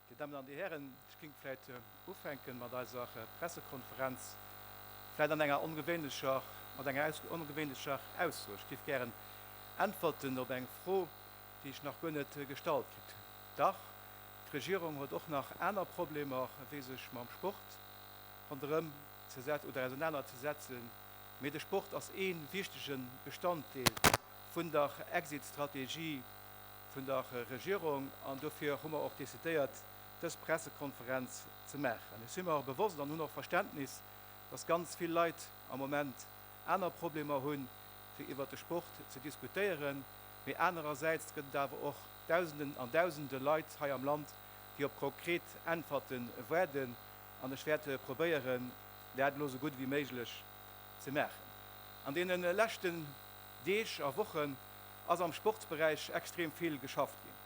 Dir Dammen an Dir Hären, ech géing vläit ufänken mat eiser Pressekonferenz, vläit an enger ongewéinlecher, mat enger aus, ongewéinlecher Ausso. Ech géif gären äntwerten op eng Fro, déi ech nach guer net gestallt kritt hunn. Dach, d'Regierung huet och nach aner Problemer, wéi sech mam Sport ronderëm ze setzen oder ausenaner ze setzen. mee de Sport ass ee wichtege Bestanddeel vun der Exit-Strategie vun der Regierung an dofir hu mer och decidéiert, dës Pressekonferenz ze maachen. Ech si mer bewosst an hunn och Verständnis, dass ganz vill Leit am Moment aner Problemer hunn, fir iwwert de Sport ze diskutéieren, mee anerersäits gëtt et awer och Dausenden an Dausende Leit hei am Land, déi op konkret Äntwerten waarden. an ech wäert probéieren, dat elo esou gutt ewéi méiglech ze maachen. An deene leschten Deeg a Wochen ass am Sportsberäich extrem vill geschafft ginn.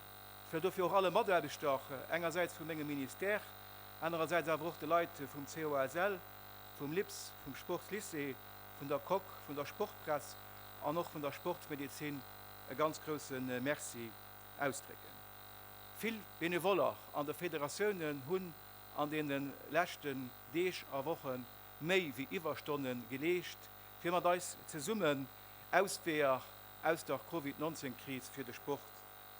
Ech wëll dofir och alle Mataarbechter, och engersäits vu mengem Ministère, anerersäits awer och de Leit vum COSL, vum LIPS, vum Sportslycée, vun der Coque, vun der Sportpress an och vun der Sportsmedezin e ganz grouse Merci ausdrécken. Vill Benevoller an de Federatiounen hunn an deene leschten Deeg a Woche méi wéi Iwwerstonne geleescht, fir mat eis zesummen Ausweeër aus der Covid 19 Kris fir de Sport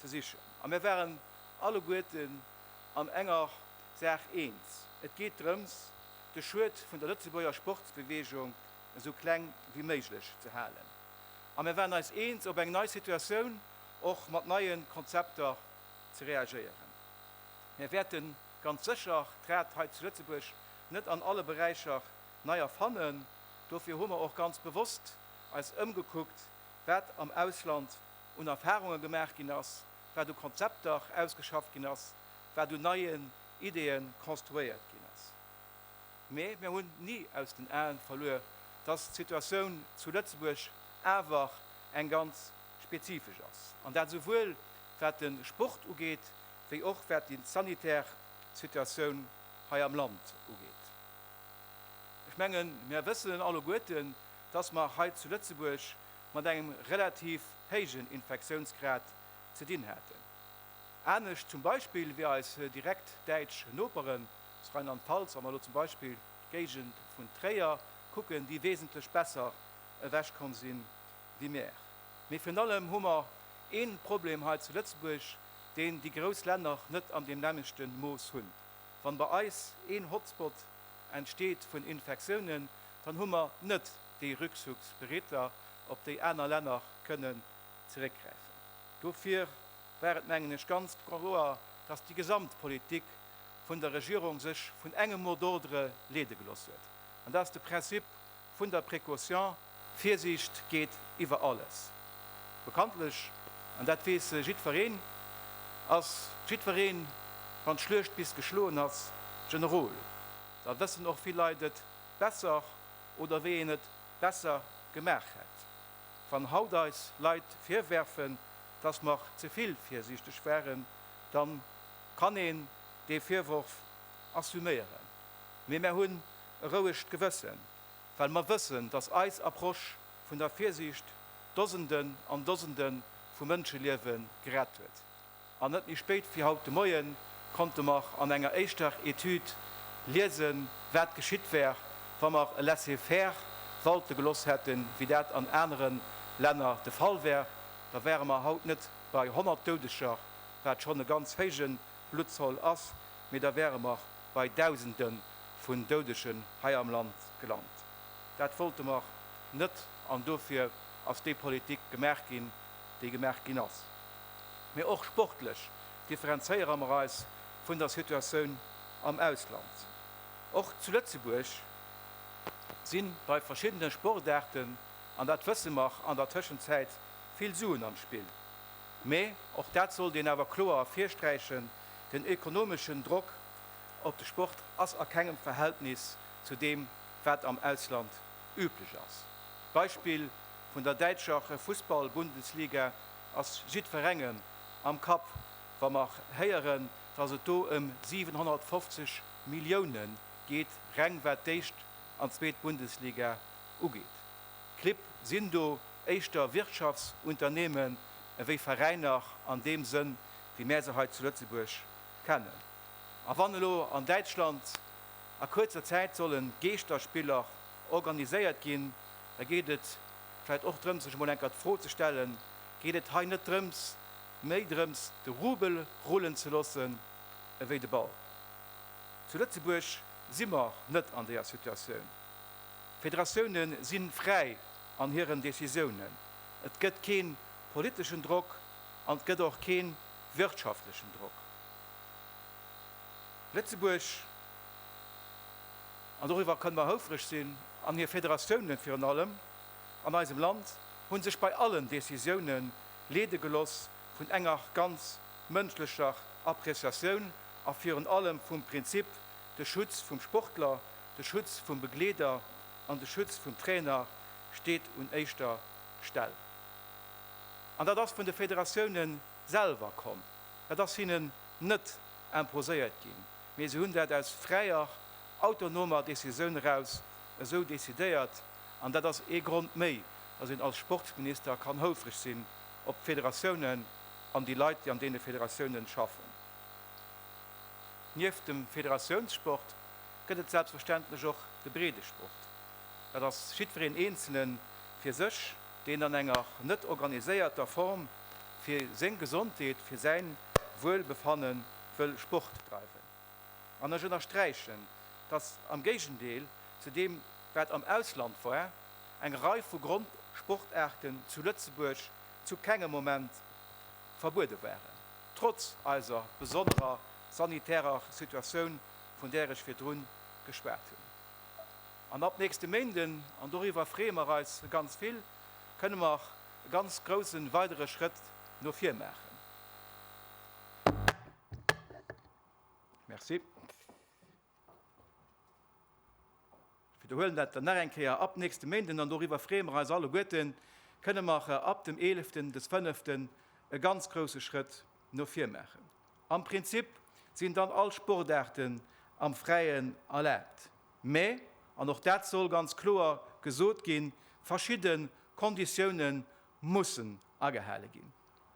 ze sichen. A mir waren alleguerten an enger Saach eens, et geet drëms, de Schued vun der Lëtzebuerger Sportsbeweegung esou kleng wéi méiglech ze halen. A mir waren eis eens, op eng nei Situatioun och mat neie Konzepter ze reagéieren. Mir wäerten Ganz sécher d'Rad hei zu Lëtzebuerg net an alle Beräicher nei erfannen. Dofir hu mer och ganz bewosst eis ëmgekuckt, wat am Ausland un Erfarunge gemaach ginn ass, wat u Konzepter ausgeschafft ginn ass, wat un neien Ideeë konstruéiert ginn ass. Mee mir hunn ni aus den Aen verluer, dass d'Situatioun zu Lëtzebuerg awer eng ganz spezifesch ass, an dat esouwuel wat de Sport ugeet, wéi och wat déi sanitär Situatioun hei am Land ugeet. Ech mengen, mir wëssen alleguerten, dass mer hei zu Lëtzebuerg mat engem relativ héijen Infektiounsgrad ze dinn haten, anescht zum Beispill wéi eis direkt däitsch Noperen zu Rheinland-Pfalz. Wa mer elo zum Beispill d'Géigend vun Tréier kucken, déi wesentlech besser ewechkomm sinn, binär. Mee virun allem hu mer ee Problem hei zu Lëtzebuerg, deen déi grouss Länner net an deem nämmlechte Mooss hunn. Wann bei eis een Hotspot entsteet vun Infektiounen, dann hu mer net déi Rückzugsbereedler, op déi aner Länner kënnen zeréckgräifen. Dofir war et, mengen ech, ganz kloer, dass déi gesamt Politik vun der Regierung sech vun engem Mot d'ordre leede gelooss huet, an dat ass de Prinzip Vun der Précaution, Virsiicht geet iwwer alles. Bekanntlech, an dat weess jiddwereen, ass jiddwereen, wann d'Schluecht bis geschloen ass, Generol. Da wëssen och vill Leit et besser oder wéi een et besser gemaach hätt. Wann haut eis Leit virwerfen, dass mer ze vill virsiichteg waren, da kann een dee Virworf assuméieren. Mee mär hunn E rouegt Gewëssen, well mer wëssen, dass eis Approche vun der Virsiicht Dosenden an Dosende vu Mënscheliewe gerett huet. An net méi spéit wéi haut de Moien konnte mer an enger éischter Etüd liesen, wat geschitt wär, wa mer e Laisser-faire walte geloss hätten, wéi dat an anere Länner de Fall wär. Da wäre mer haut net bei 100 Doudeger, wat schonn e ganz héijen Bluttzoll ass, mee da wäre mer bei Dausende vun Doudegen hei am Land gelant. Dat wollte mer net an dofir ass déi Politik gemaach ginn, déi gemaach ginn ass. Mee och sportlech differenzéiere mer eis vun der Situatioun am Ausland. Och zu Lëtzebuerg si bei verschiddene Sportaarten, an dat wësse mer, an der Tëschenzäit vill Suen am Spill. Mä, och dat sollt een awer kloer ervirsträichen, den ökonomeschen Drock op de Sport ass a kengem Verhältnis zu deem, wat am Ausland üblech ass. D'Beispill vun der däitscher Fussball-Bundesliga ass jiddwerengem am Kapp, wa mer héieren, dass et do ëm 750 Milliounen geet, reng wat d'éischt an zweet Bundesliga ugeet. Clibb sinn do éischter Wirtschaftsunternehmen ewéi Veräiner an deem Sënn, wéi mär se hei zu Lëtzebuerg kennen. A wann elo an Däitschland a kuerzer Zäit solle Geeschterspiller organiséiert ginn, da geet et vläicht och drëms, sech emol enker d'Fro ze stellen, Geet et hei net drëms, méi drëms, de Rubel rullen ze loossen ewéi de Ball? Zu Lëtzebuerg si mer net an deeër Situatioun. Federatiounen si fräi an hiren Decisiounen. Et gëtt kee politeschen Drock an et gëtt och kee wirtschaftlechen Drock. Lëtzebuerg, an doriwwer kënne mer houfreg sinn, an hir Federatiounen virun allem an eisem Land hu sech bei allen Decisiounen leede geloss vun enger ganz mënschlecher Appreciatioun a virun allem vum Prinzip de Schutz vum Sportler, de Schutz vum Begleeder an de Schutz vum Trainer steet un éischter Stell. An dat ass vun de Federatioune selwer komm. Dat ass hinnen net imposéiert ginn, mee se hunn dat aus fräier, autonomer Decisioun eraus esou decidéiert. An dat ass ee Grond méi, datt een als Sportsminister kann houfreg sinn op d'Federatiounen an déi Leit, déi an deene Federatiounen schaffen. Nieft dem Federatiounssport gëtt et selbstverständlech och de Breedesport. Dat ass jiddwereen Eenzele fir sech, deen an enger net organiséierter Form fir seng Gesondheet, fir säin Wuelbefanne wëll Sport dreiwen. An ech ënnersträichen, dass am Géigendeel zu deem, wat am Ausland war, eng Rei vu Grondsportaarten zu Lëtzebuerg zu kengem Moment verbuede waren. trotz eiser besonnerer sanitärer Situatioun, vun där ech virdrun geschwat hunn. An ab nächste Méinden, an doriwwer freeë mer eis ganz vill, kënne mer e ganz grousse weidere Schrëtt no vir maachen. Merci. Widderhuelen dat dann nach eng Kéier ab nächste Méinden an doriwwer freeë mer eis alleguerten, kënne mer ab dem Eeleften des Fënneften e ganz grousse Schrëtt no vir maachen. Am Prinzip sinn dann all Sportaarten am Fräien erlaabt, mä, an och dat soll ganz kloer gesot ginn, verschidde Konditioune mussen agehale ginn.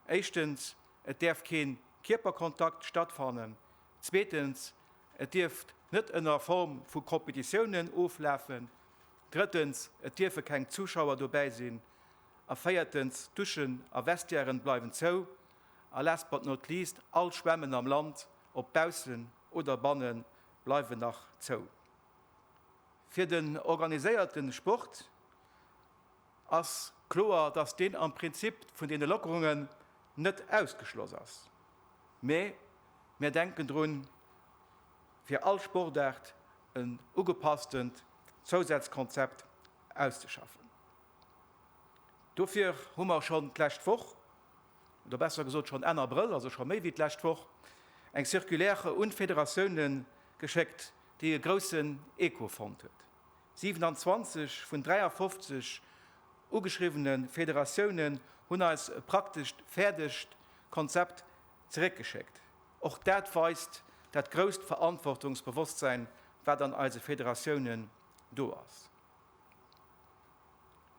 Éischtens, et däerf kee Kierperkontakt stattfannen, Zweetens, et dierft net ënner Form vu Competitiounen oflafen. Drëttens, et dierfe keng Zuschauer dobäi sinn. A véiertens, d'Duschen a Vestiairen bleiwen zou. A last but not least, all Schwämmen am Land, ob baussen oder bannen, bleiwen nach zou. Fir den organiséierte Sport. ass kloer, dass deen am Prinzip vun deene Lockerungen net ausgeschloss ass, mä mir denken drun, fir all Sportaart en ugepasstent Zousazkonzept auszeschaffen. Dofir hu mer schonn d'lescht Woch, oder besser gesot schonn Enn Abrëll, also scho méi wéi d'lescht Woch, eng Circulaire un d'Federatiounen geschéckt, déi e groussen Echo fonnt huet. 27 vun 53 ugeschriwwene Federatiounen hunn eis e praktesch fäerdegt Konzept zeréckgeschéckt. Och dat weist dat grousst Verantwortungsbewosstsein, wat an eise Federatiounen do ass.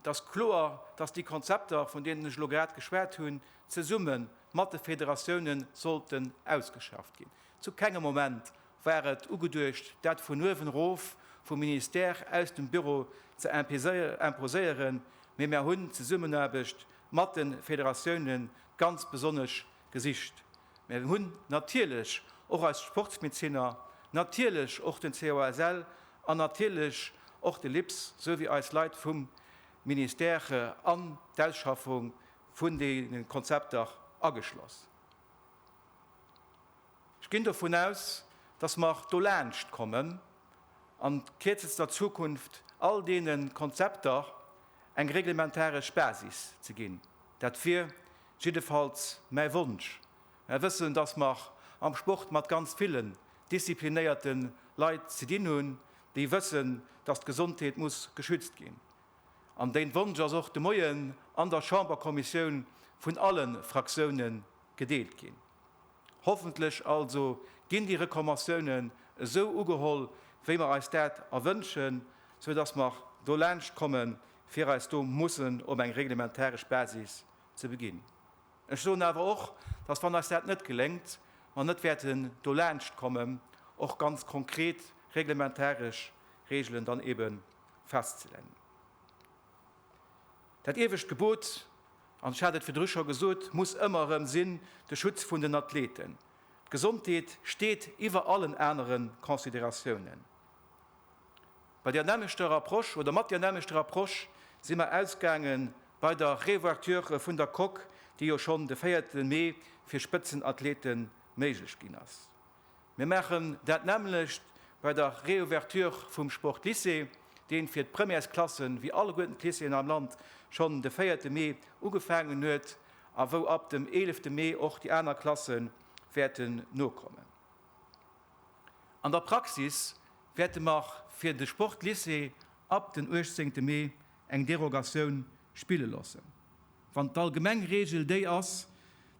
Et ass kloer, dass déi Konzepter, vun deenen ech elo grad geschwat hunn, zesumme mat de Federatiounen sollten ausgeschafft ginn. Zu kengem Moment War et ugeduecht, dat vun uewen erof vum Ministère aus dem Büro ze imposéieren, mee mär hunn d'Zesummenaarbecht mat de Federatioune ganz besonnesch gesicht. Mär hunn natierlech och eis Sportsmezinner, natierlech och den COSL an natierlech och de LIPS souwéi eis Leit vum Ministère an d'Ausschaffung vun deene Konzepter ageschloss. Ech ginn dovun aus, dass mer do laanscht kommen an kierzester Zukunft all deene Konzepter eng reglementaresch Basis ze ginn. Dat wier jiddefalls mäi Wonsch. Mer wëssen, dass mer am Sport mat ganz villen disziplinéierte Leit ze dinn hunn, déi wëssen, dass d'Gesondheet muss geschützt ginn. An deen Wonsch ass och de Moien an der Chamberkommissioun vun alle Fraktioune gedeelt ginn. Hoffentlech also ginn déi Rekommatiounen esou ugeholl, wéi mer eis dat erwënschen, sou dass mer do laanscht kommen, fir eis do mussen op eng reglementaresch Basis ze beginn. Ech soen awer och, dass, wann eis dat net geléngt, mer net wäerten do laanscht kommen, och ganz konkret reglementaresch Regelen dann ebe festzelennen. Dat iewescht Gebot an ech hat et virdru scho gesot, muss ëmmer erëm sinn, de Schutz vun den Athleten. D'Gesondheet steet iwwer allen anere Consideratiounen. Bei där nämmlechter Approche oder mat där nämmlechter Approche si mer ausgaange bei der Reouverture vun der Coque, déi jo schonn de véierte Mee fir Spëtzenathlete méiglech ginn ass. Mir maachen dat nämmlecht bei der Reouverture vum Sportlycée, deen fir d'Premièresklassen, wéi alleguerten d'Lycéeën am Land, schonn de véierte Mee ugefaangen huet a wou ab dem eelefte Mee och déi aner Klasse wäerten nokommen. An der Praxis wäerte mer fir de Sportlycée ab den uechtzéngte Mee eng Derogatioun spille loossen, wann d'allgemeng Reegel déi ass,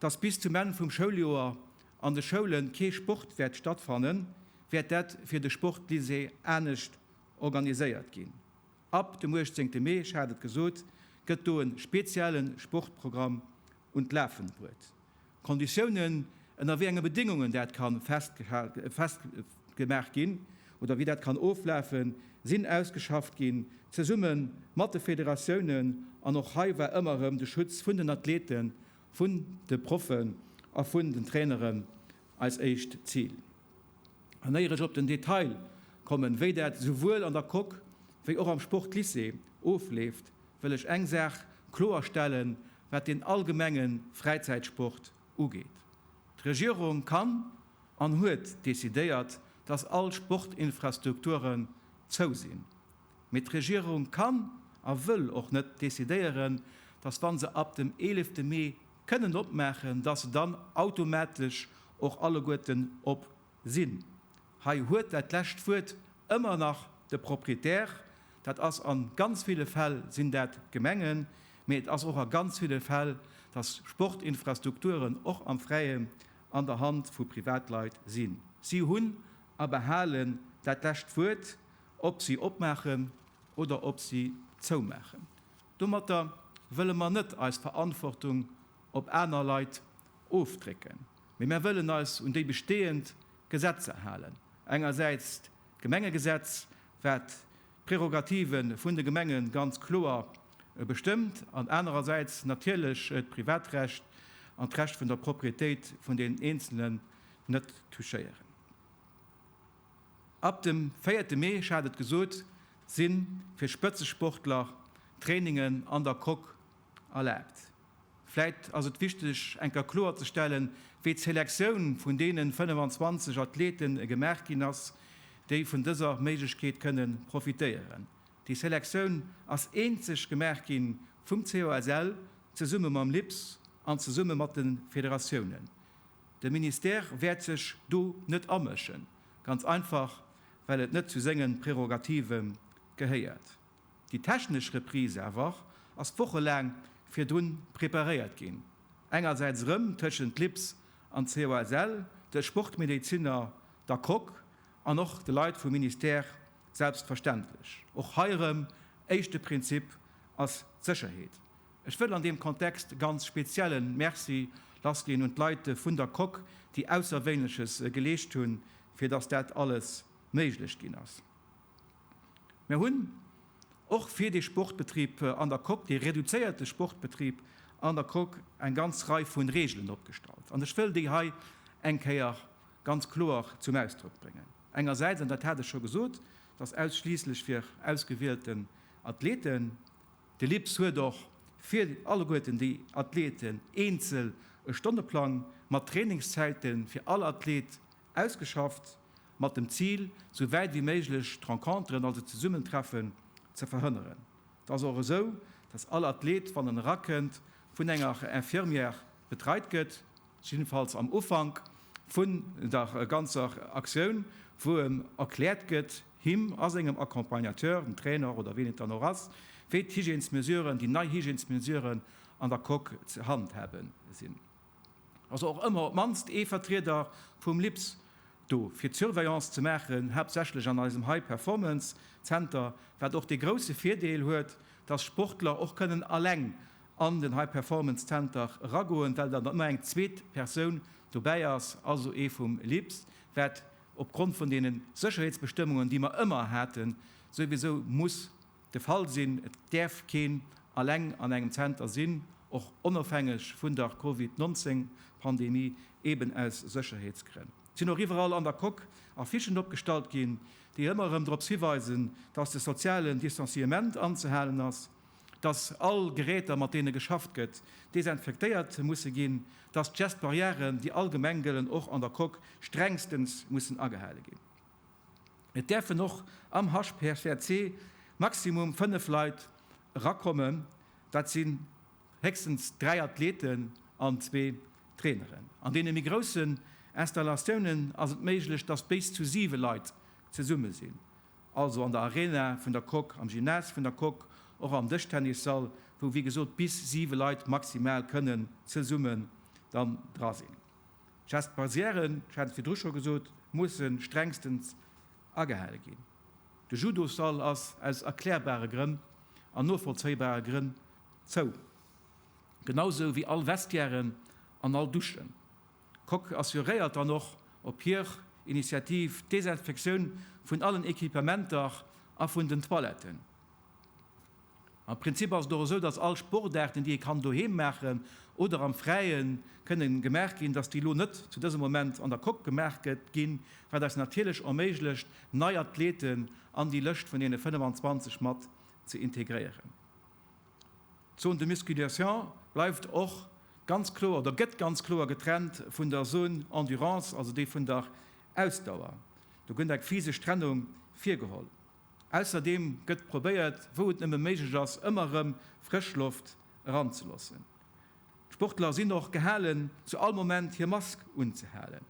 dass bis zum Enn vum Schouljoer an de Schoule kee Sport wäert stattfannen, wäert dat fir de Sportlycée anescht organiséiert ginn. Ab dem 18. Mee, ech hat et gesot, gëtt do e spezielle Sportprogramm un d'Lafen bruet. D'Konditiounen, ënner wéi enge Bedéngungen dat ka festgemaach ginn oder wéi dat kann oflafen, sinn ausgeschafft ginn, zesumme mat de Federatiounen. An och hei war ëmmer erëm de Schutz vun den Athleten, vun de Proffen a vun den Traineren eis éischt Zil. An éier ech op den Detail kommen, wéi dat esouwuel an der Coque wéi och am Sportlycée ofleeft, wëll ech eng Saach kloer stellen, wat den allgemenge Fräizäitsport ugeet. D'Regierung kann an huet decidéiert, dass all Sportinfrastrukturen zou sinn. Mee d'Regierung kann a wëll och net decidéieren, dass wa se ab dem eelefte Mee kënnen opmaachen, dass se dann automatesch och alleguerten op Sinn. Hei huet dat lescht Wuert ëmmer nach de Proprietär. Dat ass a ganz ville Fäll sinn dat d'Gemengen, mee et ass och a ganz ville Fäll, dass Sportinfrastrukturen och am Fräien an der Hand vu Privatleit sinn. Si hunn a behalen dat lescht Wuert, ob si opmaachen oder ob si zoumaachen. Domatter wëlle mer net eis Verantwortung op aner Leit ofdrécken. Mee mär wëllen eis un déi bestehend Gesetzer halen, engersäits d'Gemengegesetz, wat d'Prerogative vun de Gemenge ganz kloer bestëmmt, an anerersäits natierlech d'Privatrecht an d'Recht vun der Proprietéit vun den Eenzelen net touchéieren. Ab dem véierte Mee, ech hat et gesot, si fir Spëtzesportler d'Trainingen an der Coque erlaabt. Vläit ass et wichteg eng Kéier kloer ze stellen, wéi d'Selektioun vun deenen 25 Athleten gemaach ginn ass, déi vun dëser Méiglechkeet kënnen profitéieren. Déi Selektioun ass eenzeg gemaach ginn vum COSL zesumme mam LIPS an zesumme mat den Federatiounen. De Ministère wäert sech do net amëschen, ganz einfach well et net zu sengen Prerogative gehéiert. Déi technesch Reprise awer ass wochelaang virdrun preparéiert ginn, engersäits erëm tëschent LIPS an COSL, de Sportmedeziner, der Coque an och de Leit vum Ministère selbstverständlech. Och hei erëm, éischte Prinzip ass d'Sécherheet. Ech wëll an deem Kontext ganz speziell e Merci lassginn un d'Leit vun der Coque, déi Ausserwéinleches geleescht hunn, fir datt dat alles méiglech ginn ass. Mir hunn och fir de Sportbetrib an der Coque, de reduzéierte Sportbetrib an der Coque, eng ganz Rei vun Regeln opgestallt. An ech wëll déi hei eng Kéier ganz kloer zum Ausdrock bréngen. Engersäits, an dat hat ech scho gesot, dass ausschliisslech fir ausgewielten Athleten, de LIPS huet och fir alleguerten déi Athleten eenzel e Stonneplang mat Trainingszäite fir all Athlet Ausgeschafft, mat dem Zil, sou wäit wéi méiglech d'Renconteren, also d'Zesummentreffen, ze verhënneren. Et ass och esou, dass all Athlet, wann en erakënnt, vun enger Infirmière betreit gëtt, jiddefalls am Ufank vun der ganzer Aktioun, wou em erkläert gëtt, him a sengem Accompagnateur, dem Trainer oder wien et dann och ass, wéi d'Hygiènesmesuren, déi nei Hygiènesmesuren an der Coque ze handhaben sinn. ass och ëmmer op d'mannst ee Vertrieder vum LIPS do fir d'Surveillance ze maachen, haaptsächlech an eisem High Performance Zenter, wat och dee grousse Virdeel huet, dass Sportler och kënnen alleng an den High Performance Zenter eragoen, well dann ëmmer eng zweet Persoun dobäi ass, also ee vum LIPS, wat opgrond vun deene Sécherheetsbestëmmungen, déi mer ëmmer haten, souwisou muss de Fall sinn. Et däerf keen alleng an engem Zenter sinn, och onofhängeg vun der Covid 19 Pandemie, eben aus Sécherheetsgrënn. Et sinn och iwwerall an der Coque Affichen opgestallt ginn, déi ëmmer erëm drops hiweisen, datt de sozialen Distanciement anzehalen ass, datt all Geräter mat deene geschafft gëtt desinfektéiert musse ginn, datt d'Gest Barrièren, déi allgemeng gëllen, och an der Coque strengstens mussen agehale ginn. Et däerfen och am HCR maximum 5 Leit erakommen, dat sinn héchstens 3 Athleten an zwee Traineren. An deene méi groussen Installatiounen ass et méiglech, dass béis zu 7 Leit zesumme sinn, also an der Arena vun der Coque, am Gymnase vun der Coque, och am Dëschtennissall, wou wéi gesot bis 7 Leit maximal kënnen zesumme dann dra sinn. Gestes barrièren, ech hat et virdru scho gesot, mussen strengstens agehale ginn. De Judosall ass aus erklärbare Grënn an novollzéibare Grënn zou, genausou wéi all Vestiairen an all Duschen. D'Coque assuréiert dann och op hir Initiativ d'Desinfektioun vun allen Equipementer a vun den Toiletten. Am Prinzip ass et och esou, dass all Sportaarten, déi ee kann doheem maachen oder am Fräien kënne gemaach ginn, dass déi elo net zu dësem Moment an der Coque gemaach gëtt ginn, wat eis natierlech erméiglecht, nei Athleten an déi Lëscht vun deene 25 mat ze integréieren. D'Zone de musculation bleift och ganz kloer oder gëtt ganz kloer getrennt vun der Zone endurance, also déi vun der Ausdauer. Do gëtt eng physesch Trennung virgeholl. Ausserdeem gëtt probéiert, wou et nëmme méiglech ass, ëmmer erëm frësch Loft eranzeloossen. D'Sportler sinn och gehalen, zu all Moment hir Mask unzehalen,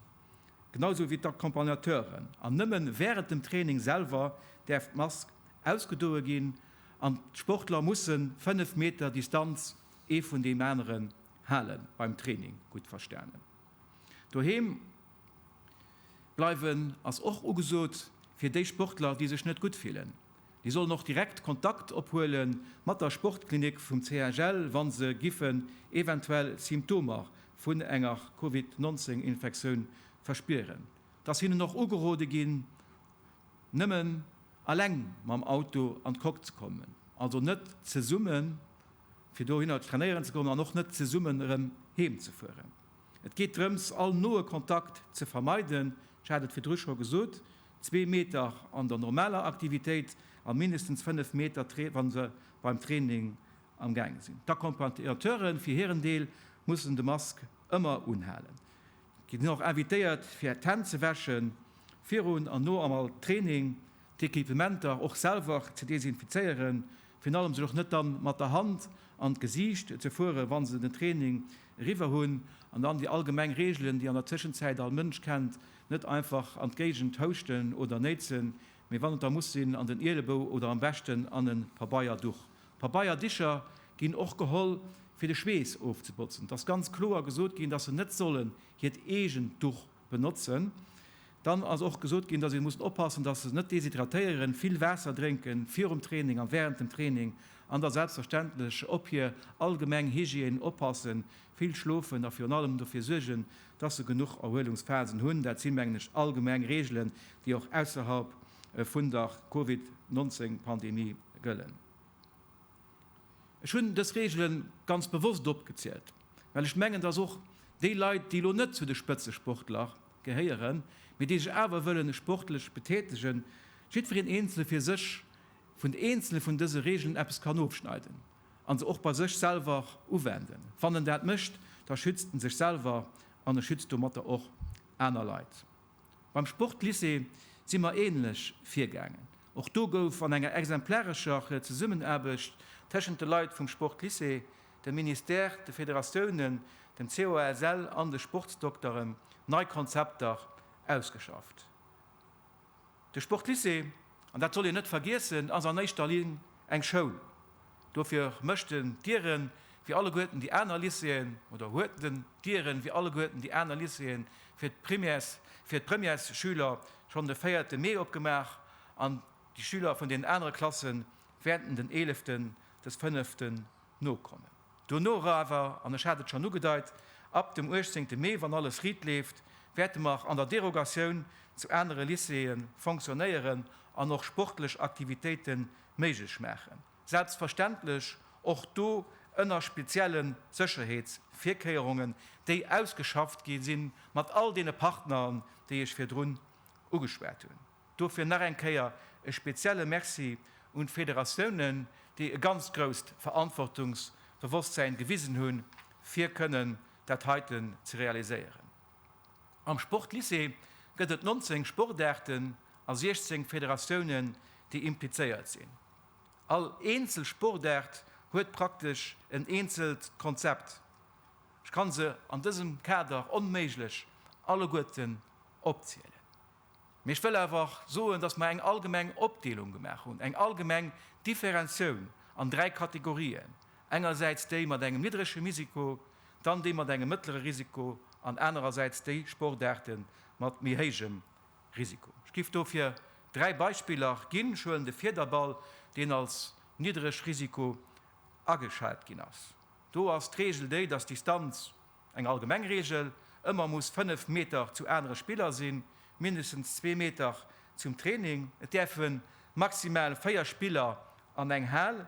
genau sou wéi d'Accompagnateuren, an nëmme wärend dem Training selwer däerf d'Mask ausgedoe ginn an d'Sportler musse 5 Meter Distanz ee vun deem aneren halen, beim Training gutt verstanen. Doheem bleiwen ass och ugesot. Fir déi Sportler, déi sech net gutt fillen, déi sollen och direkt Kontakt ophuele mat der Sportklinik vum CHL, wa se giffen eventuell Symptomer vun enger Covid 19 Infektioun verspieren. Et ass hinnen och ugerode ginn, nëmmen aleng mam Auto an d'Coque ze kommen, also net zesumme fir dohinner trainéieren ze goen an och net zesummen erëm heem ze fueren. Et geet drëms, all noe Kontakt ze vermeiden, ech hat et virdru scho gesot, zwee Meter an der normaler Aktivitéit a mindestens fënnef Meter, wa se beim Training am Gaange sinn. D'Accompagnateure fir hiren Deel mussen de Mask ëmmer unhalen. Dir sidd och invitéiert, fir d'Hänn ze wäschen, virun an no all Training. D'Equipementer och selwer ze desinfizéieren, virun allem sech och net dann mat der Hand an d'Gesiicht ze fueren, wann se den Training eriwwer hunn, an dann déi allgemeng Reegelen, déi an der Tëschenzäit all Mënsch kennt, net einfach an d'Géigend houschten oder néitsen, mee wann et da muss sinn, an den Ielebou oder am beschten an e Pabeierduch. Pabeierdicher ginn och geholl, fir de Schweess ofzebotzen. Et ass ganz kloer gesot ginn, dass se net sollen hiert eegent Duch benotzen. Dann ass och gesot ginn, dass ee muss oppassen, dass se net deshydratéieren, vill Waasser drénken virum Training a wärend dem Training an da selbstverständlech op hir allgemeng Hygiène oppassen, vill schlofen a virun allem dofir suergen, dass se genuch Erhuelungsphasen hunn. Dat si mengen ech allgemeng Reegelen, déi och ausserhalb vun der Covid 19 Pandemie gëllen. Ech hunn dës Reegele ganz bewosst opgezielt, well ech mengen, dass och déi Leit, déi elo net zu de Spëtzesportler gehéieren, mee déi sech awer wëllen sportlech betätegen, jiddwereen eenzele fir sech vun eenzele vun dëse Reegelen eppes kann ofschneiden a se och bei sech selwer uwenden. Wann en dat mécht, da schützt en sech selwer an e schützt domatter och aner Leit. Beim Sportlycée si mer ähnlech virgaangen. Och do gouf an enger exemplarescher Zesummenaarbecht tëschent de Leit vum Sportlycée, dem Ministère, de Federatiounen, dem COASL an de Sportsdokteren nei Konzepter ausgeschafft. De Sportlycée, an dat soll een net vergiessen, ass an éischter Linn eng Schoul. Dofir mécht en d'Dieren wéi alleguerten déi aner Lycéeën, oder huet en d'Dieren wéi alleguerten déi aner Lycéeën, fir d'Primaires, fir d'Premièresschüler schonn de véierte Mee opgemaach an déi Schüler vun den anere Klasse wäerten den eeleften des fënneften nokommen. Dono era awer, an ech hat et schonn ugedeit, ab dem uechtzéngte Mee, wann alles riit leeft, wäerte mer an der Derogatioun zu anere Lycéeë fonctionnéieren an och sportlech Aktivitéite méiglech maachen. Selbstverständlech och do ënner speziellen Sécherheetsvirkéierungen, déi ausgeschafft gi sinn, mat all deene Partneren, déi ech virdrun ugeschwat hunn. Dofir nach eng Kéier e spezielle Merci un d'Federatiounen, déi e ganz grousst Verantwortungsbewosstsäin gewisen hunn, fir kënnen dat heiten ze realiséieren. Am Sportlycée gëtt et 19 Sportaarten a 16 Federatiounen, déi implizéiert sinn. All eenzel Sportaart huet praktesch en eenzelt Konzept. Ech kann se an dësem Kader onméiglech alleguerten opzielen. Mee ech wëll awer och soen, dass mer eng allgemeng Opdeelung gemaach hunn, eng allgemeng Differenzioun an dräi Kategorien, engersäits déi mat engem niddrege Risiko, dann déi mat engem mëttlere Risiko an anerersäits déi Sportaarte mat méi héijem Risiko. Ech géif dofir dräi Beispiller ginn. Ech huelen de Fiederball, deen als niddreg Risiko ageschat ginn ass. Do ass d'Reegel déi, dass d'Distanz Eng allgemeng Reegel, Ëmmer muss 5 Meter zu anere Spiller sinn, mindestens zwee Meter zum Training. Et däerfe maximal 4 Spiller an eng Hal.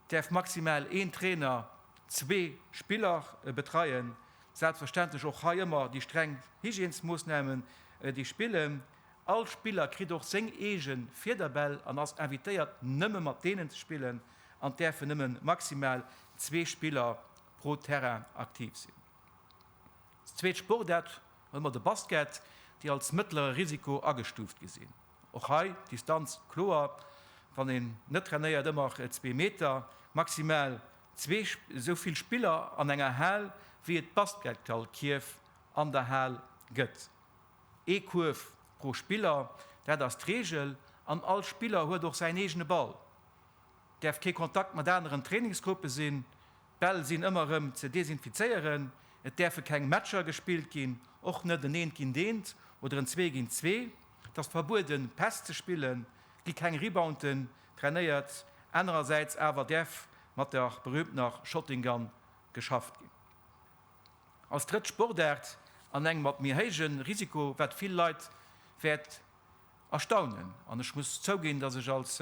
Et däerf maximal een Trainer zwee Spiller betreien. Selbstverständlech och hei ëmmer déi streng Hygiènesmoossnamen, déi spillen. All Spiller kritt och seng eege Fiederbäll an ass invitéiert nëmme mat deenen ze spillen an et däerfe nëmme maximal zwee Spiller pro Terrain aktiv sinn. Als zweet Sportaart hu mer de Basket, déi als mëttlere Risiko agestuuft gi sinn. Och hei d'Distanz kloer, wann een net trainéiert, ëmmer zwee Meter, maximal zwee esou vill Spiller an enger Hal, wéi et Basketgallkierf an der Hal gëtt. Ee Kuerf pro Spiller, dat ass d'Reegel an all Spiller huet och säin eegene Ball. däerf kee Kontakt mat aneren Trainingsgruppe sinn, d'Bäll sinn ëmmer erëm ze desinfizéieren, et däerfe keng Matcher gespillt ginn, och net en Eent géint Eent oder en Zwee géint Zwee. Et ass verbueden, Päss ze spillen, et gi keng Rebounten trainéiert, anerersäits awer däerf mat der berüümtener Shotting Gun geschafft ginn. Als drëtt Sportaart an engem mat méi héijen Risiko, wat vill Leit wäert erstaunen. An ech muss zouginn, dass ech als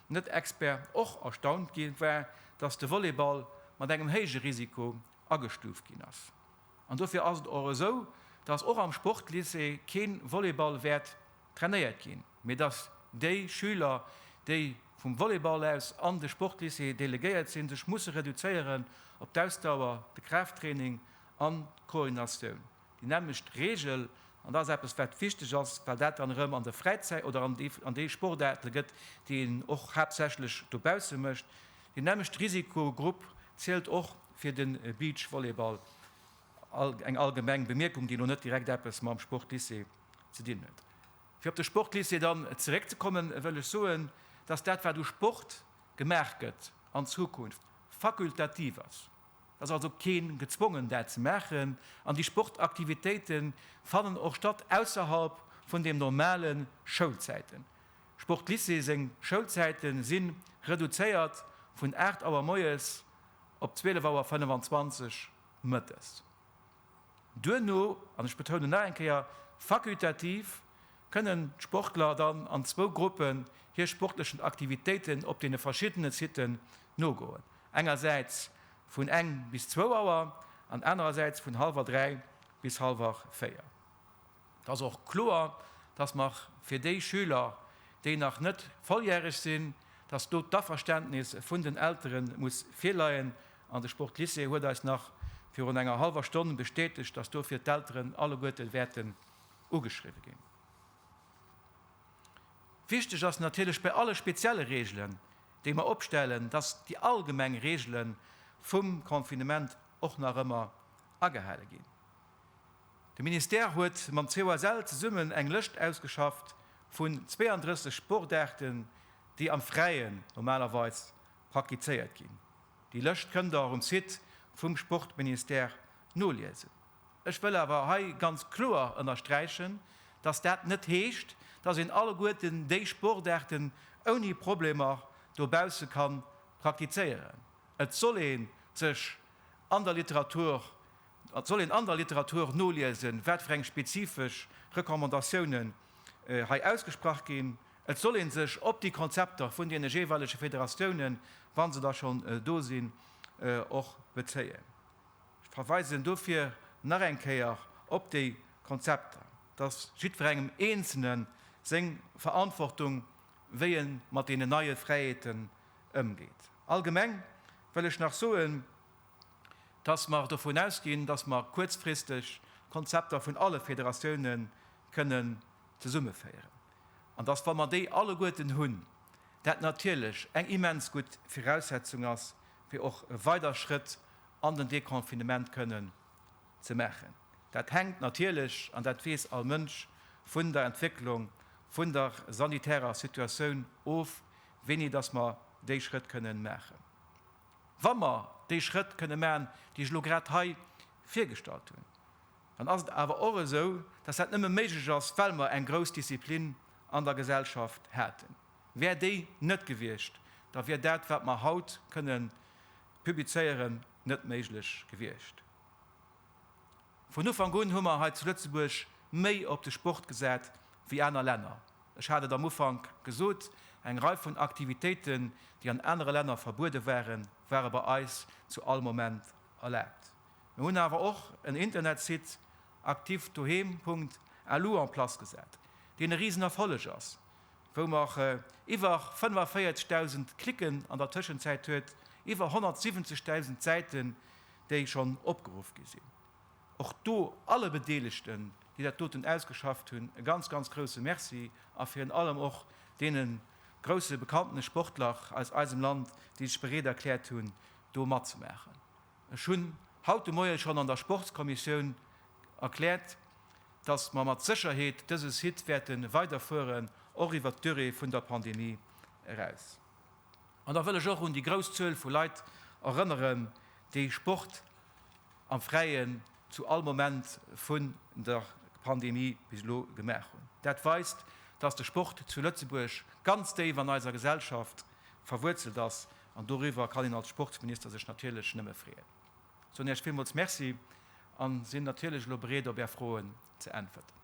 Net-Expert och erstaunt gi war, dass de Volleyball mat engem héije Risiko agestuuft ginn ass. An dofir ass et och esou, dass och am Sportlycée kee Volleyball wäert trainéiert ginn, mee dass déi Schüler, déi vum Volleyball aus an de Sportlycée delegéiert sinn, sech musse reduzéieren op d'Ausdauer, de Kraafttraining an d'Koordinatioun. Déi nämmlecht Reegel, an dat ass eppes, wat wichteg ass, well dat dann erëm an der Fräizäit oder an deene Sportaarte gëtt, déi een och haaptsächlech dobausse mécht, deen nämmlechte Risikogrupp zielt och fir de Beachvolleyball. Eng allgemeng Bemierkung, déi elo net direkt eppes mam Sportlycée ze dinn huet. Fir op de Sportlycée dann zeréckzekommen, wëll ech soen, dass dat, wat u Sport gemaach gëtt, an Zukunft fakultativ ass. Et ass also keen gezwongen dat ze maachen an déi Sportaktivitéite fannen och statt ausserhalb vun dem normale Schoulzäiten. Sportlycée seng Schoulzäite si reduzéiert vun 8 Auer moies op 12 Auer 25 mëttes. Duerno, an ech betounen nach eng Kéier, fakultativ, kënnen d'Sportler dann an zwou Gruppen hir sportlechen Aktivitéiten op deene verschiddene Siten nogoen, engersäits vun eng bis zwou Auer an anerersäits vun hallwer dräi bis hallwer véier. Et ass och kloer, dass mer fir déi Schüler, déi nach net volljäreg sinn, dass do d'Averständnis vun den Eltere muss virleien. An de Sportlycée huet eis nach virun enger hallwer Stonn bestätegt, dass dofir d'Elteren alleguerte wäerten ugeschriwwe ginn. Wichteg ass natierlech bei alle spezielle Reegelen, déi mer opstellen, dass déi allgemeng Reegele vum Confinement och nach ëmmer agehale ginn. De Ministère huet mam COSL zesummen eng Lëscht ausgeschafft vun 32 Sportaarten, déi am Fräien normalerweis praktizéiert ginn. Déi Lëscht kënnt der och um Site vum Sportministère noliesen. Ech wëll awer hei ganz kloer ënnersträichen, dass dat net heescht, dass een alleguerten déi Sportaarten ouni Problemer dobausse ka praktizéieren. Et soll ee sech an der Literatur Et soll een an der Literatur noliesen, wat fir eng spezifesch Recommandatiounen hei ausgesprach ginn. Et soll ee sech op déi Konzepter vun deene jeeweilege Federatiounen, wa se da schonn do sinn, och bezéien. Ech verweisen dofir nach eng Kéier op déi Konzepter, dass jiddwerengem Eenzelne seng Verantwortung, wéi e mat deenen neie Fräiheeten ëmgeet. Allgemeng wëll ech nach soen, dass mer dovun ausginn, dass mer kuerzfristeg d'Konzepter vun alle Federatioune kënnen zesummeféieren an dass, wa mer déi alleguerten hunn, dat natierlech eng immens gutt Viraussetzung ass, fir och e weider Schrëtt an den Deconfinement kënnen ze maachen. Dat hänkt natierlech, an dat weess all Mënsch, vun der Entwécklung vun der sanitärer Situatioun of, wéini dass mer déi Schrëtt kënnen maachen. Wa mer déi Schrëtt kënne maachen, déi ech elo grad hei virgestallt hunn, dann ass et awer och esou, dass dat nëmme méiglech ass, well mer eng grouss Disziplin an der Gesellschaft haten. Wär déi net gewiescht, da wier dat, wat mer haut kënnen publizéieren, net méiglech gewiescht. Vun Ufank un hu mer hei zu Lëtzebuerg méi op de Sport gesat wéi aner Länner. Ech hat et am Ufank gesot, eng Rei vun Aktivitéiten, déi an anere Länner verbuede waren, ware bei eis zu all Moment erlaabt. Mir hunn awer och en Internetsite, activedoheem.lu, en place gesat, deen e risen Erfolleg ass, wou mer iwwer 45.000 Cliquen an der Tëschenzäit huet, iwwer 170.000 Säiten, déi schonn opgeruff gi sinn. Och do alle Bedeelegten, déi dat doten ausgeschafft hunn, e ganz, ganz grouse Merci a virun allem och deene grouse bekanntene Sportler aus eisem Land, déi sech bereet erkläert hunn, do matzemaachen. Ech hunn haut de Moie schonn an der Sportskommissioun erkläert, dass mer mat Sécherheet dëse Site wäerte weiderfueren, och iwwert d'Durée vun der Pandemie eraus. An da wëll ech och un déi grouss Zuel vu Leit erënneren, déi Sport am Fräien zu all Moment vun der Pandemie bis elo gemaach hunn. Dat weist, dass de Sport zu Lëtzebuerg ganz déif an eiser Gesellschaft verwuerzelt ass. An doriwwer kann een als Sportsminister sech natierlech nëmme freeën. Ech soen Iech villmools Merci a sinn natierlech elo bereet, op Är Froen ze äntwerten.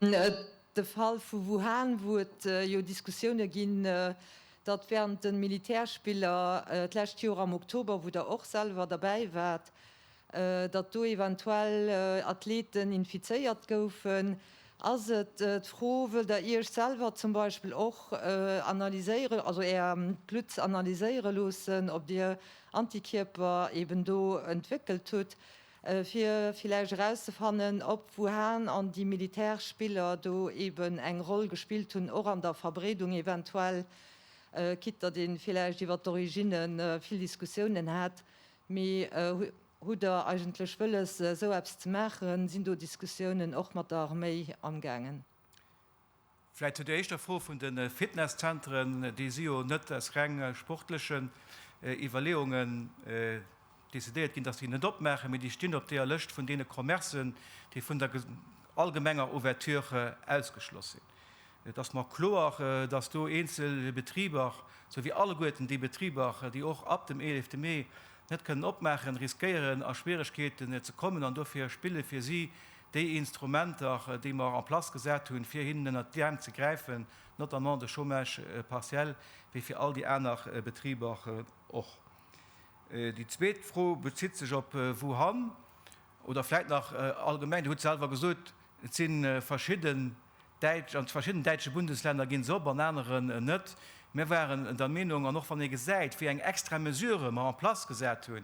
De Fall vu Wuhan, wou et jo Diskussioune ginn, datt wärend de Militärspiller d'lescht Joer am Oktober, wou Der och selwer derbäi waart, datt do eventuell Athleten infizéiert goufen, ass et d'Fro, wëllt Der Iech selwer zum Beispill och analyséieren, also Är Blutt analyséiere loossen, ob Dir Antikierper eeben do entwéckelt hutt, fir villäicht erauszefannen ob, wouhan an déi militäresch Spiller do eben eng Roll gespillt hunn, och an der Verbreedung eventuell, quitte datt ee villäicht iwwer d'Origine vill Diskussiounen hat. Mee hutt Der eigentlech wëlles esou eppes ze maachen? Sinn do Diskussiounen och mat der Arméi amgaangen? Vläit zu der éischter Fro vun de Fitnesszentren, déi si jo net aus reng sportlechen Iwwerleeungen decidéiert ginn, datt se déi net opmaachen, mee déi stinn op deeër Lëscht vun deene Commercen, déi vun der allgemenger Ouverture ausgeschloss sinn. Et ass mer kloer, datt do eenzel Betriber, sou wéi alleguerten déi Betriber, déi och ab dem eelefte Mee net kënnen opmaachen, riskéieren a Schwieregkeeten ze kommen an dofir spille fir si déi Instrumenter, déi mer en place gesat hunn, fir hinnen ënnert d'Äerm ze gräifen, notamment de Chômage partiel, wéi fir all déi aner Betriber och. Déi zweet Fro bezitt sech op Wuhan oder vläicht nach allgemeng. Dir hutt selwer gesot, et si verschidde Däitsch, an zu verschiddenen däitsche Bundeslänner ginn se op, an aneren net. Mir waren der Meenung, an och wann ee gesäit, wéi eng extra Mesurë mer en place gesat hu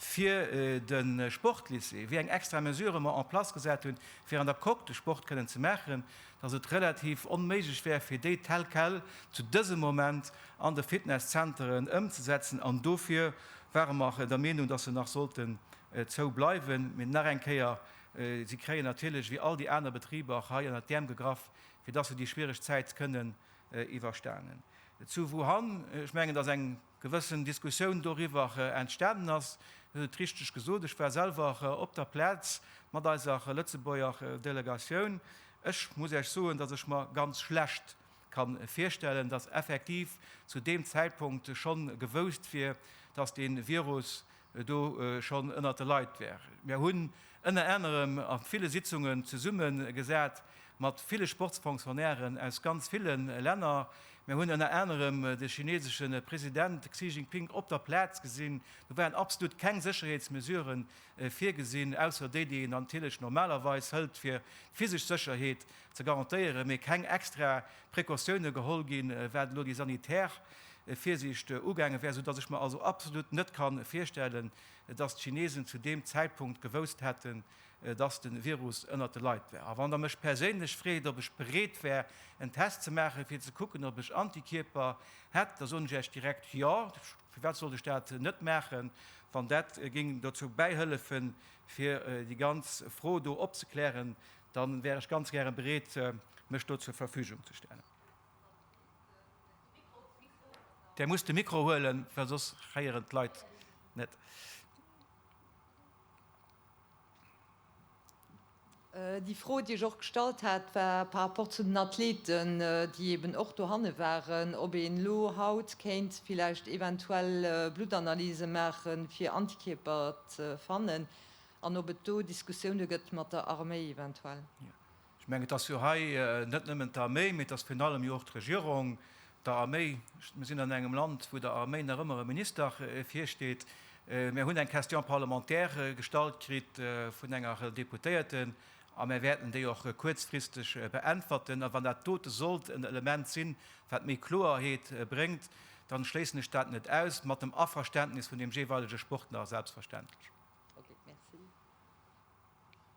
fir de Sportlycée, wéi eng extra Mesurë mer en place gesat hu fir an der Coque de Sport kënnen ze maachen, dass et relativ onméiglech wär fir déi tel quel zu dësem Moment an de Fitnesszenteren ëmzesetzen. An dofir ware mer der Meenung, dass se nach sollten zou bleiwen. Mee nach eng Kéier, Si kréien natierlech, wéi all déi aner Betriber, och hei ënnert d'Äerm gegraff, fir dass se déi schwiereg Zäit kënnen iwwerstanen. Zu Wuhan, ech mengen, dass eng gewëssen Diskussioun doriwwer entstanen ass. Dir hutt et richteg gesot, ech war selwer op der Plaz mat eiser Lëtzebuerger Delegatioun. Ech muss Iech soen, dass ech mer ganz schlecht ka virstellen, dass effektiv zu deem Zäitpunkt schonn gewousst wier, dass dee Virus do schonn ënnert de Leit war. Mir hunn ënner anerem a ville Sitzungen zesumme gesat mat ville Sportsfonctionnairen aus ganz ville Länner. Mir hunn ënner anerem de chinesesche President Xi Jinping op der Plaz gesinn. Do waren absolut keng Sécherheetsmesurë virgesinn, ausser déi, déi een natierlech normalerweis hëlt, fir d'physesch Sécherheet ze garantéieren, mee keng extra Precautioune geholl ginn, wat elo déi sanitär Virsiicht ugaange wär, soudatt ech mer also absolut net ka virstellen, datt d'Chinesen zu deem Zäitpunkt gewousst hätten, datt de Virus ënnert de Leit wär. A wann Der mech perséinlech freet, ob ech bereet wär, en Test ze maachen, fir ze kucken, ob ech Antikierper hätt, da soen ech Iech direkt jo. Firwat sollt ech dat net maachen, wann dat géing dozou bäihëllefen, fir déi ganz Fro do opzeklären? Da wär ech ganz gäre bereet, mech do zur Verfügung ze stellen. Där musst de Mikro huelen, well soss héieren d'Leit net. Déi Fro, déi ech och gestallt hat, war par rapport zu den Athleten, déi eeben och dohanne waren, ob een elo haut kéint villäicht eventuell Bluttanalyse maache fir Antikierper ze fannen an ob et do Diskussioune gëtt mat der Arméi eventuell. Ech mengen, et ass jo hei net nëmmen d'Arméi, mee et ass virun allem jo och d'Regierung, d'Arméi. Mir sinn an engem Land, wou der Arméi nach ëmmer e Minister virsteet. Mir hunn eng Question parlementaire gestallt kritt vun enger Deputéierten a mir wäerten déi och kuerzfristeg beäntwerten. A wann dat dote sollt en Element sinn, wat méi Kloeerheet bréngt, dann schléissen ech dat net aus, mat dem Averständnis vun deem jeeweilege Sportler selbstverständlech.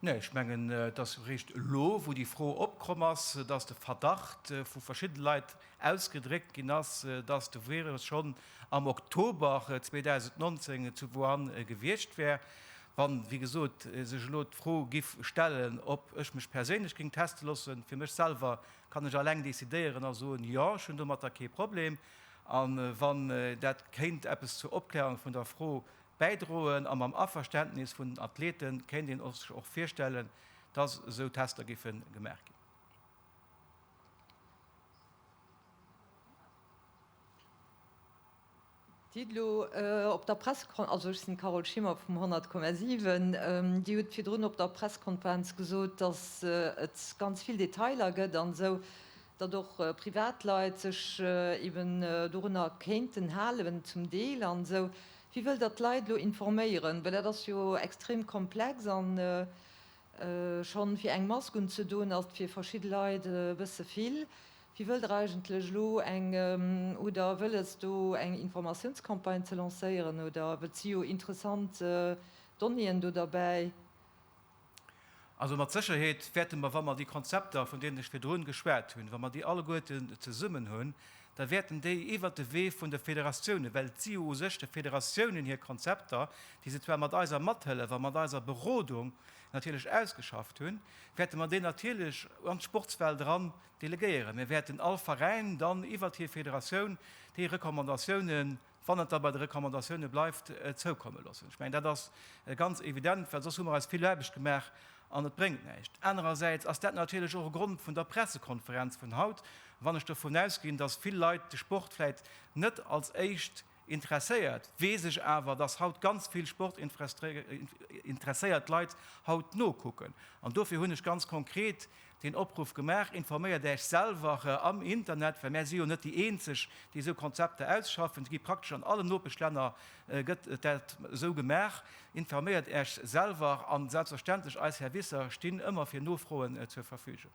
Nee, ech mengen, et ass eréischt elo, wou déi Fro opkomm ass, dass de Verdacht vu verschidde Leit ausgedréckt ginn ass, dass de Virus schonn am Oktober 2019 zu Wuhan gewiescht wär. Wann, wéi gesot, sech elo d'Fro giff stellen, ob ech mech perséinlech géing teste loossen, fir mech selwer kann ech alleng decidéieren a soen, jo, ech hunn domatter kee Problem, a wann dat kéint eppes zur Opklärung vun der Fro bäidroen a mam Averständnis vun den Athlete kéint een sech och virstellen, dass esou Tester géife gemaach ginn. D'Didelo op der Pressekon-, also ech sinn d'Carole Schimmer vum 100,7, Dir hutt virdrun op der Pressekonferenz gesot, dass et ganz vill Detailer gëtt an esou, datt och Privatleit sech eeben dorunner kéinten halen, zum Deel an esou. Wie wëll der d'Leit elo informéieren? Well dat ass jo extrem komplex a schonn fir eng Mask unzedoen ass et fir verschidde Leit e bësse vill. Wie wëll der eigentlech elo eng, oder wëll es do eng Informatiounscampagne ze lancéieren oder, well et si jo interessant Donnéeën do derbäi, Also mat Sécherheet wäerte mer, wa mer déi Konzepter, vun deenen ech virdrun geschwat hunn, wa mer déi alleguerten zesummen hunn, da wäerten déi iwwert de Wee vun de Federatiounen, well et si jo u sech de Federatiounen hir Konzepter, déi se zwar mat eiser Mathëllef a mat eiser Berodung natierlech ausgeschafft hunn, wäerte mer déi natierlech an d'Sportswelt eran delegéieren. Mir wäerten all Veräin dann iwwert hir Federatioun déi Recommandatiounen wann et da bei de Recommandatioune bleift, zoukomme loossen. Ech mengen, dat ass ganz evident, well soss hu mer eis vill Aarbecht gemaach an et bréngt näischt. Anerersäits ass dat natierlech och e Grond vun der Pressekonferenz vun haut, wann ech dovun ausginn, datt vill Leit de Sport vläicht net als éischt interesséiert, weess ech awer, datt haut ganz vill sportinteresséiert Leit haut nokucken. An dofir hunn ech ganz konkret deen Opruff gemaach, informéiert Äech selwer am Internet, well mär si jo net déi eenzeg, déi esou Konzepter ausschaffen, se gi praktesch an allen Nopeschlänner gëtt dat esou gemaach, informéiert Äech selwer an selbstverständlech eis Servicer stinn ëmmer fir Nofroen zur Verfügung.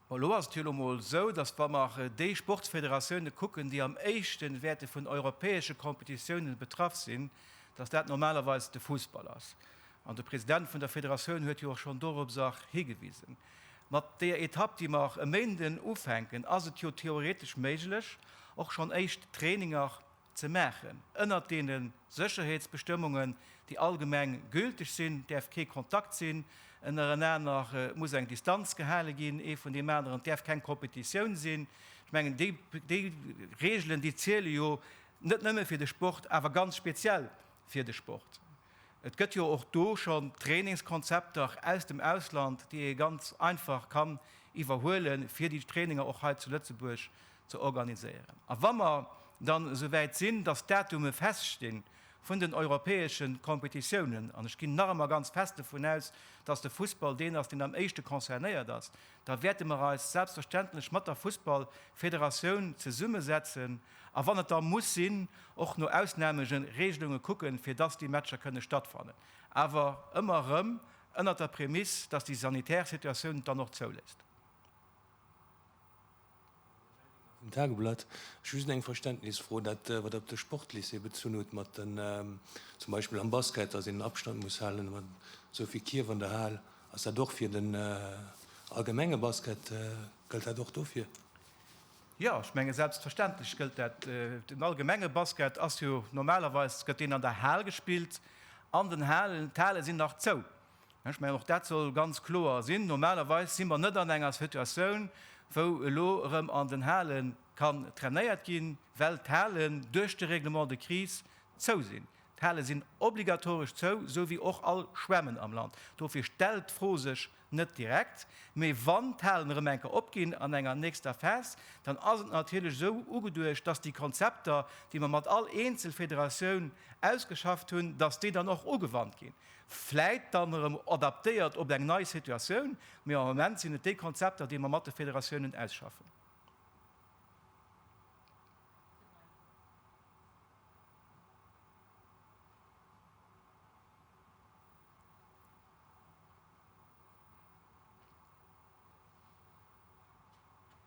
Bon, elo ass et jo elo emol esou, datt wa mer déi Sportsfederatioune kucken, déi am éischte wäerte vun europäesche Competitiounen betraff sinn, datt dat normalerweis de Fussball ass. An de President vun der Federatioun huet jo och schonn dorobser higewisen. Mat deeër Etapp, déi mer e Méinden ufänken, ass et jo theoretesch méiglech, och schonn éischt Traininger, ze maachen. Ënnert deene Sécherheetsbestëmmungen, déi allgemeng gülteg sinn, däerf kee Kontakt sinn, ënnerenaner muss eng Distanz gehale ginn, ee vun deem aneren, et däerf keng Competitioun sinn. Ech mengen, déi Reegelen, déi ziele jo net nëmme fir de Sport, awer ganz speziell fir de Sport. Et gëtt jo och do schonn Trainingskonzepter aus dem Ausland, déi ee ganz einfach kann iwwerhuelen, fir déi Traininger och hei zu Lëtzebuerg ze organiséieren. A wa mer dann esou wäit sinn, dass d'Datume feststi vun den europäesche Kompetitiounen, an ech ginn nach ëmmer ganz fest dovun aus, dass de Fussball deen ass, deen am éischte concernéiert ass, da wäerte mer eis selbstverständlech mat der Fussballfederatioun zesummesetzen a wann et da muss sinn, och no Ausnameregelunge kucken, fir dass déi Matcher kënne stattfannen, awer ëmmer erëm ënnert der Prämiss, dass déi sanitär Situatioun et dann och zouléisst. Vum Tageblatt. Ech hu just eng Verständnisfro, dat, wat Der op de Sportlycée bezunn hutt, mat den, zum Beispill am Basket, datt een den Abstand muss halen, mat esou vill Kierf an der Hal. Ass dat och fir den allgemenge Basket, gëllt dat och dofir? Jo, ech menge selbstverständlech gëllt dat. Den allgemenge Basket ass jo normalerweis, gëtt deen an der Hal gespillt, an den Halen, d'Hale sinn nach zou. Ech mengen, och dat soll ganz kloer sinn. Normalerweis si mer net an enger Situatioun, wou elo erëm an den Hale kann trainéiert ginn, well d'Halen duerch de Règlement de crise zou sinn. D'Hale sinn obligatoresch zou, esou wéi och all Schwämmen am Land. Dofir stellt d'Fro sech net direkt. Mee wann d'Halen erëm eng Kéier opginn an enger nächster Phas, dann ass et natierlech esou ugeduecht, dass déi Konzepter, déi mer mat all Eenzelfederatioun ausgeschafft hunn, dass déi dann och ugewannt ginn. vläit dann erëm adaptéiert op eng nei Situatioun, mee am Moment sinn et déi Konzepter, déi mer mat de Federatiounen ausschaffen.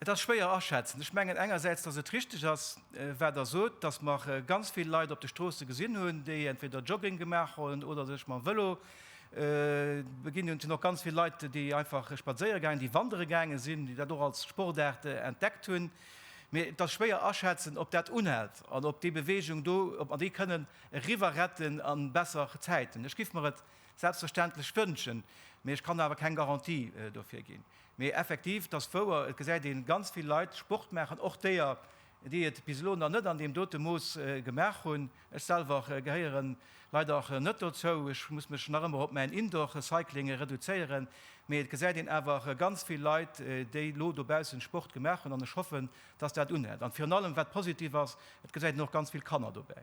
Et ass schwéier aschätzen. Ech mengen engersäits, dass et richtig ass, wat Der sot, dass mer ganz vill Leit op de Stroosse gesinn hunn, déi entweder Jogging gemaach hunn oder sech mam Vëlo beginn hunn. Et hunn och ganz vill Leit, déi einfach spadséiere gaangen, déi wandere gaange sinn, déi dat och als Sportaart entdeckt hunn. Mee et ass schwéier aschätzen, ob dat unhält an ob déi Beweegung do, ob mer déi kënnen eriwwerretten a besser Zäiten. Ech géif mer et selbstverständlech wënschen, mee ech kann awer keng Garantie dofir ginn. Mee effektiv, 't ass wouer, et gesäit ee ganz vill Leit Sport maachen, och déer, déi et bis elo nach net an deem dote Mooss gemaach hunn. Ech selwer gehéiere leider net dozou, ech muss mech nach ëmmer op mäin Indoor-Cycling reduzéieren. Mee et gesäit een awer ganz vill Leit, déi elo dobaussen Sport gemaach hunn an ech hoffen, dass dat unhält. An virun allem, wat positiv ass, et gesäit een och ganz vill Kanner dobäi.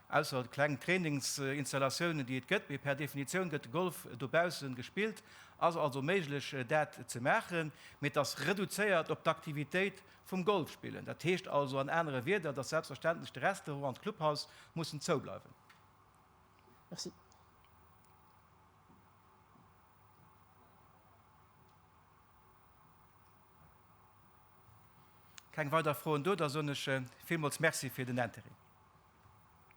Ausser kleng Trainingsinstallatiounen, déi et gëtt, mee per Definitioun gëtt de Golf dobaussen gespillt, ass also méiglech dat ze maachen, mee et ass reduzéiert op d'Aktivitéit vum Golfspillen. Dat heescht also an anere Wierder, dass selbstverständlech de Restaurant an d'Clubhaus mussen zoubleiwen. Merci. Keng weider Froen do, da soen ech villmools Merci fir den Intérêt.